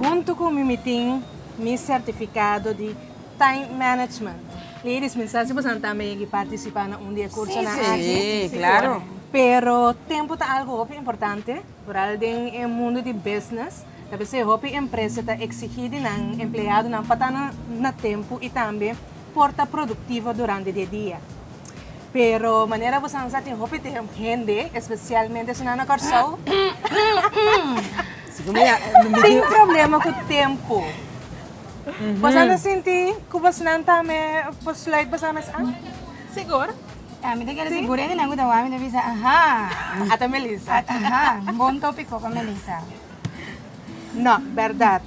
Huntu ku mi mi tin mi sertifikado di Time Management. Ladies, mi sa si boso nan tambe yegi partisipá na un di e kursonan aki. Pero tempu ta algu hopi importante, vooral den e mundu di business. Ta p'esei hopi empresa ta eksigí di nan empleadonan pa ta na tempu i tambe por ta produktivo durante di e dia. Pero manera bosan sa tin hopi hende, espesialmente esunnan na Kòrsou, tin problema ku tempu. Bosan ta sinti ku bosnan tambe por sluit bosan mes an? Sigur. Ah, mi ta kere si Buren y nan cu ta wami ta bisa, Ahaa. Ata Melissa. Ata, aha, un bon topico pa Melissa. No, berdad.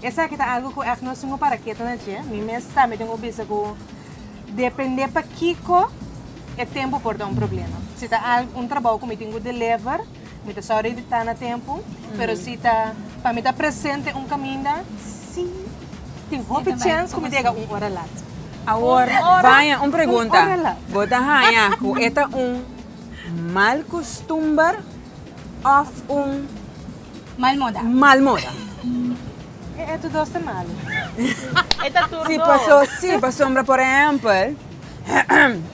Esaki ta algo cu echt nos tin cu para ketu na dje. Mi mes tambe tin cu bisa cu depende pa kico e tempo por ta un problema. Si ta al, un trabou cu mi tin cu deliver. Mi ta sorry di ta na tempu, pero si ta pa mi ta presente un kaminda, si. Tin hopi chèns ku mi ta yega un ora lat. Awor, Vania, un pregunta. Bo ta haña ku e ta un mal kustumber òf un. Mal moda. Mal moda? E etu dos ta malu. E ta tur dos. Si, paso, si, pasobra, por ehèmpel,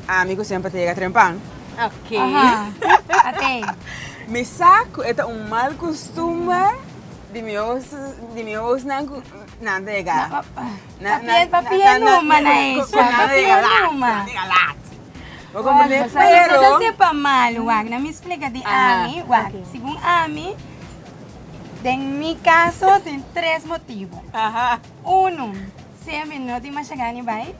ami ku semper ta yega trempan. Ke? Mi sa ku e ta un mal kustumber di mi hos di mi hosnan ku nan ta yega. Papia numa na esha, papia numa. Nan ta yega lat. Bo komprende? Pero. Bo ta sepa mal, wak na mi splika di ami, wak. Segun ami, den mi kaso tin tres motibu. Unu, sea mi no tin masha gana di bai.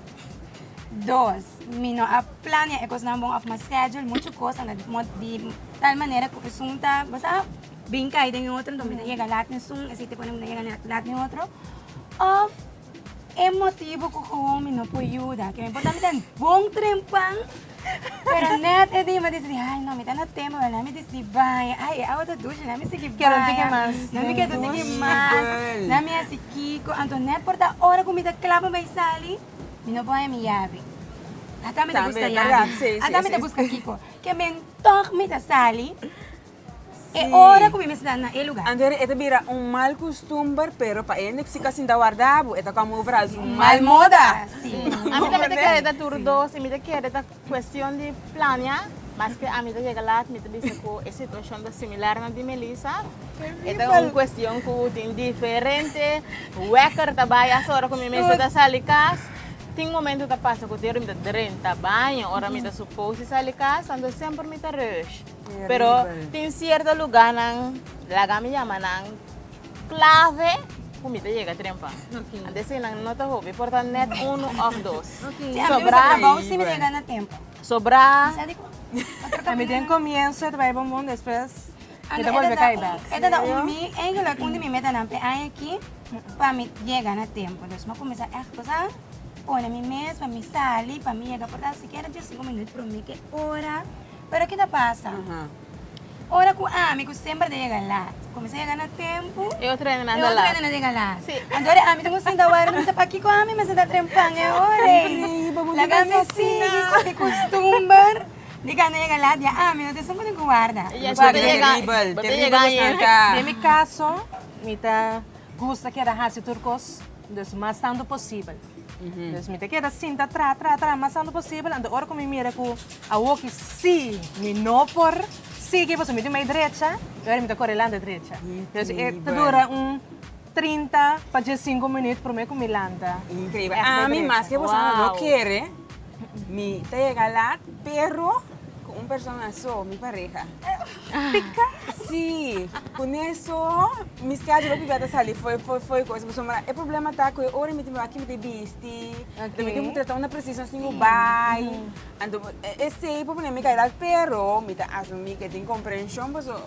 Dos, mi no a. Plania e kosnan bon of ma schedule muchu kosa na mod di tal manera ku esun ta bo sa brinka ei den e otro enton mi ta yega lat na esun esei te pone mi ta yega lat lat na e otro of e motibu ku gewoon mi no por yuda ke mi por tambe den bon trempan pero net e di mi disidí ai no mi ta na tempo mi mi disidí bai ai e awa ta dushi na mi sigui bai Quiero tigui mas na mi quiero tigui mas na mi hasi kiko anto net por ta ora ku mi ta kla pa bai sali. Mi no bohe mi yabi. Ata mi ta buska yabi. Ata mi ta buska kiko. Ke men tòg mi ta sali e ora ku mi mester na e lugar. Anto e ta bira un mal kustumber, pero pa e hende ku si ka sinta warda bo, e ta kòm overal su mal moda. A mi tambe ta kere ta tur dos i mi ta kere ta. Cuestion di plania, maske ami ta yega laat mi ta bisa cu e situacion ta similar na di Melissa. E ta un cuestion cu tin diferente weker ta bay hasta ora cu mi mes ta sali cas. Tin momento ta pasa cu tin ora mi ta drenta baño ora mi ta suppose di sali cas anto semper mi ta rush. Pero tin cierto lugarnan laga mi yama nan. Clave cu mi ta yega trempa. Ante así nan no ta hopi por ta net uno of dos. Sobra. Sobra. Mi den comienzo ta bay bon bon despues mi ta bolbe cay back. E ta ta un mi eigenlijk un di mi metanan p'e aña aki pa mi yega na tempo. Dus mi cuminsa echt cosa pone mi mes pa mi sali pa mi yega por ta sikiera dies cinco minuut prome ke ora. Pero ki ta pasa? Ora ku ami, ku semper ta yega lat, kuminsá yega na tempu, e otro hende na anda lat. Anto di ami ta por sinta wòrdu, mi bisa, pakiko ami mester ta trem pan e ora ei? Laga mi sigui ku e kustumber di kando yega lat ya ami no tin esun pasobra ku warda. Den mi kaso, mi ta gusta keda hasi tur kos, dus mas tantu posibel. Dus mi ta keda sinta tra tra tra mas anto posibel, anto ora ku mi mira ku awoki si mi no por sigui pasobra mi tin bai drecha i ora mi ta kore lanta drecha. Dus e ta dura un trinta pa diesinku minüt promé ku mi lanta. Increíbel. Ami, maske boso no lo kere. Mi ta yega laat pero cu un persona so, mi pareha. Pika? Si, cu neso mi schedule hopi bia ta sali fo'i, fo'i, fo'i cu esbo so. Mara e problema ta cu e ora mi tin bin aki mi tin bisti, den mi tin cu trata una precisión sin cu bai. Anto esey por ponemi caridad pero mi ta asumi cu e tin comprension paso.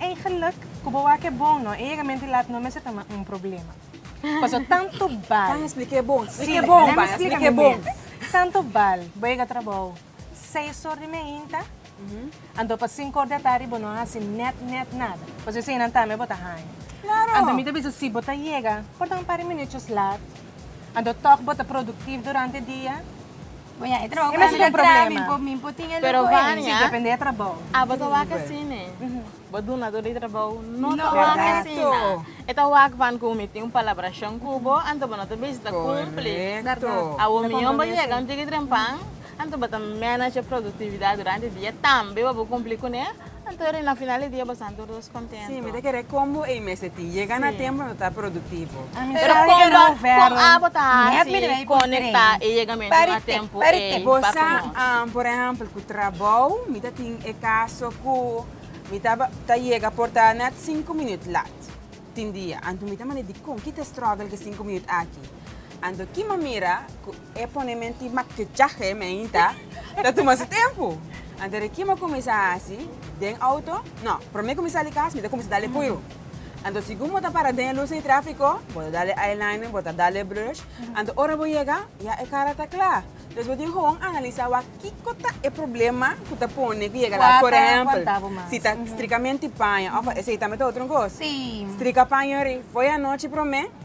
Eigenlik ku bo wak e bon no e yega mente lat no mester ta ma un problema. Paso tantu bal. Kan esplika e bon. Esplika e bon bai. Esplika e bon. Tantu bal bo yega trabou seis or di meinta anto pa sinku or di atardi bo no a hasi net net nada. Paso esei nan tambe bo ta haña. Klaro. Anto mi ta bisa si bo ta yega por ta un par di minutchos lat anto tog bo ta produktiv durante dia Bo ya e trabou ku Amiga Tra mi por mi por tin e luku ei. Si depende e trabou. Abo ta wak asi ne. Bo duna tur di trabou no ta wak asina. E ta wak ban ku mi tin un palabrashon ku bo anto bo no ta bisti ta kumpli. Awor mi yon bo yega un tiki trempan anto bo ta manage e produktividat durante dia tambe bo por kumpli kuné. Anto ora na final di dia bo santo dos kontentu. Si, mi ta kere kon bo ei mester tin. Yega na tempu nan ta tabata produktivo. Pero kon bo, kon abo ta hasi konekta e yegamentu na tempu ei pa ku nos? Por ehèmpel ku trabou mi ta tin e kaso ku mi ta yega por ta nèt sinku minüt lat tin dia. Anto mi ta manda dikon? Ki ta strògel ki sinku minüt aki? Anto ki manera ku. E pone menti makichahe meinta ta tuma su tempu. Anto de kima kuminsá hasi den outo? No, prome ku mi sa di kas mi ta kuminsá dale puiru. Anto sigun bo ta para den e lus di tráfiko, bo ta dale eyeliner, bo ta dale blush, anto ora bo yega ya e kara ta kla. Dus bo tin hon analisá wak kiko ta e problema ku ta pone ku yega la. Por ehèmpel, si ta strika menti paña òf a esei tambe ta otro kos. Strika paña yori foi anochi prome.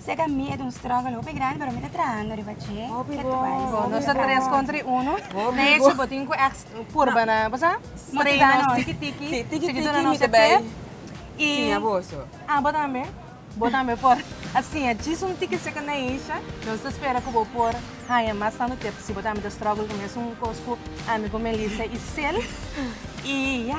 Seka mi e ta un struggle hopi grandi pero mi ta trahando riba dje. Hopi Get bon, wise. Bo hopi nos ta bon. tres contra i uno. Hopi De hecho, bon. bo tin cu ex purba na, bo sa? Mo ti da Strenos, nos. tiki tiki. Sí, tiki Siguitu tiki na mi nos ta e bay tip. Y, siña boso. ah, bo tambe? Bo tambe por a siña djis un tiki seka Neisha. Nos ta spera cu bo por haña mas tanto tips si bo tambe ta struggle cu mesun cos cu ami, cu Melissa y Sil. Y ya.